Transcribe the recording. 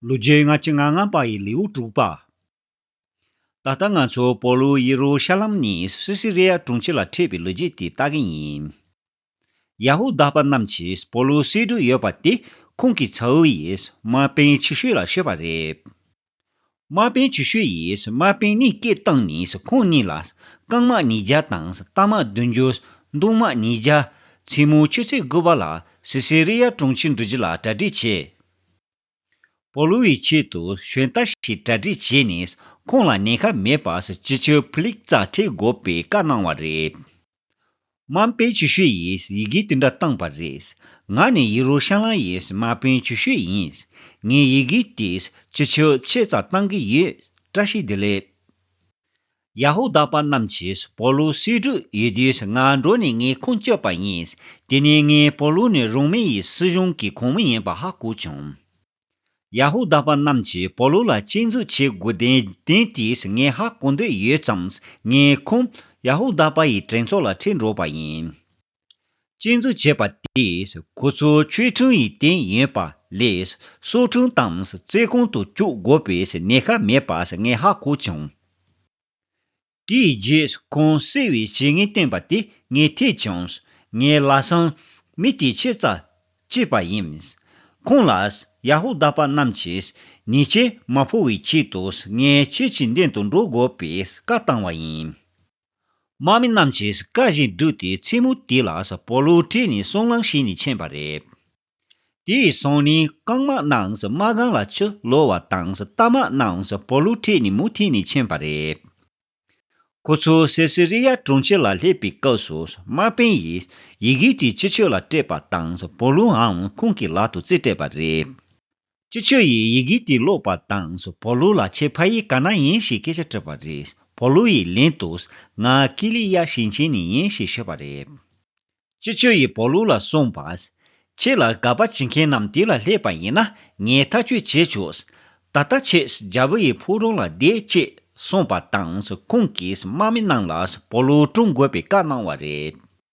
ལོ་རྒྱུས་སྔ་ཕྱི་ལྔ་ལྔ་པ་ཡི་ལེའུ་དྲུག་པ། ད་ལྟ་ང་ཚོ་པོ་ལུ་ཡེ་རུ་ཤ་ལམ་ནས་སི་སི་རེ་ཡ་དྲུང་ཆེ་ལ་ཁྲིད་པའི་ལོ་རྒྱུས་དེ་ལྟ་གི་ཡིན། ཡ་ཧུ་དཱ་པ་རྣམས་ཀྱིས་པོ་ལུ་སེ་འབྲུག་ཡོད་པ་དེ་ཁོང་གི་ཚ་བོ་ཡིས་མ་པེན་ཆུ་ཤོད་ལ་ཤོད་པ་རེད། མ་པེན་ཆུ་ཤོད་ཡིས་མ་པེན་གནས་སྐད་བཏང་ནས་ཁོང་གཉིས་ལ་རྐང་དམག་ཉིས་བརྒྱ་དང་རྟ་དམག་བདུན་ཅུ། མདུང་དམག་ཉིས་བརྒྱ། མཚན་མོའི་ཆུ་ཚོད་དགུ་པ་ལ་སི་སི་རེ་ཡ་དྲུང་ཆེ་འགྲུལ་རྒྱུ་ལ་གྲ་སྒྲིག་བྱས། པོ་ལུའུ་ཡི་ཆེད་དུ་གཞོན་རྟ་ཞིག་གྲ་སྒྲིག་བྱས་ནས་ཁོང་ལ་ཉེན་ཁ་མེད་པར་སྤྱི་ཁྱབ་ཕུ་ལེགས་རྩ་ཁྲིད་དགོས་པའི་བཀའ་གནང་བ་རེད། མཱ་པན་ཆུ་ཤུས་ཡིས་ཡི་གེ་དེ་འདྲ་བཏང་བ་རེད། ང་ནི་ཡི་རུ་ཤ་ལང་ཡིས་མཱ་པན་ཆུ་ཤུས་ཡིན། ངས་ཡི་གེ་དེ་སྤྱི་ཁྱབ་ཆེད་རྩ་བཏང་གི་ཡོད། བཀྲ་ཤིས་བདེ་ལེགས། ཡ་ཧུ་དཱ་པ་རྣམས་ཀྱིས་པོ་ལུ་སེ་འབྲུག་ཡུལ་དེར་ང་འགྲོ་ནས་ངའི་ཁུངས་བཅོལ་པ་ཡིན། དེ་ནས་ངས་པོ་ལུ་ནི་རོ་མེ་ཡི་སྲིད་གཞུང་གི་ཁོངས་མི་ཡིན་པ་ཧ་གོ་བྱུང། ཡ་ཧུ་དཱ་པ་རྣམས་ཀྱིས་པོ་ལུ་ལ་གཅེས་འཛུགས་བྱེད་དགོས་དོན་དོན་དེས་ངས་ཧ་གོ་འདོད་ཡོད་ཙང་ངའི་ཁུངས་ཡ་ཧུ་དཱ་པ་ཡི་དྲན་ཚོགས་ལ་འཁྲིད་འགྲོ་བ་ཡིན། བཅས་འཛུགས་བྱས་པ་དེས་ཁོ་ཚོ་ཆོས་འཕྲིན་ཡི་དེན་ཡིན་པ་ལས་སྲོག་འཕྲིན་དང་བརྩེ་གང་དུ་བཅུག་དགོས་པའི་ནད་ཁ་མེད་པ་ངས་ཧ་གོ་བྱུང། དེའི་རྗེས་ཁོང་བསད་བའི་བྱས་ངན་བསྟན་པ་དེ་ངས་ཐོས་བྱུང། ངའི་ལ་སང་མི་དེ་ཕྱིར་རྩ་བཅད་པ་ཡིན། ཁོང་ལ་ཡ་ཧུ་དཱ་པ་རྣམས་ཀྱིས་ཉེས་ཆད་མ་ཕོག་བའི་ཆེད་དུ་ངས་ཁྱེད་ཀྱི་མདུན་དུ་འགྲོ་དགོས་པའི་བཀའ་བཏང་བ་ཡིན། དམག་མི་རྣམས་ཀྱིས་བཀའ་བཞིན་བསྒྲུབས་ཏེ་མཚན་མོ་དེ་ལ་སྤོ་ལོ་བྲིས་ནས་སྲང་ལམ་ཞིག་ནས་ཕྱིན་པ་རེད། དེའི་སང་ཉིན་རྐང་དམག་རྣམས་དམག་སྒང་ལ་ཕྱིར་ལོག་བ་དང་རྟ་དམག་རྣམས་སྤོ་ལོ་ཁྲིད་ནས་མུ་མཐུད་ནས་ཕྱིན་པ་རེད། ཁོ་ཚོ་སེ་སི་རི་ཡ་གྲོང་ཁྱེར་ལ་སླེབས་པའི་སྐབས་སུ་དམག་དཔོན་ཡིས་ཡི་གེ་དེ་སྤྱི་ཆོས་ལ་སྤྲད་པ་དང་སྤོ་ལོའང་ཁོང་གི་ལག་ཏུ་རྩིས་སྤྲད་པ་རེད། ཅི་ཆོས་ཡིས་ཡི་གེ་དེ་ཀློག་པ་དང་སུ་བོ་ལུ་ལ་ཁྱེད་ཕ་ཡིས་ག་ན་ཡིན་ཞེས་སྐད་ཆ་དྲིས་པ་རེད་བོ་ལུ་ཡིས་ལན་དུ། ང་ཀི་ལི་ཡ་ཞིང་ཆེན་ནས་ཡིན་ཞེས་ཤོད་པ་རེད། ཅི་ཆོས་ཡིས་བོ་ལུ་ལ་གསུངས་པ། ཁྱེད་ལ་དགའ་པ་བྱེད་མཁན་རྣམས་དེ་ལ་སླེབས་པ་ཡིན་ན་ངས་ཐག་གཅོད་བྱེད་ཆོག། ད་ལྟ་ཁྱེད་རྒྱ་བོད་ཡི་ཕུག་རོང་ལ་བསྡད་ཅེས་གསུངས་པ་དང་སུ་ཁོང་གིས་དམག་མི་རྣམས་ལ་སུ་བོ་ལུ་བཀྲོངས་དགོས་པའི་བཀའ་གནང་བ་རེད།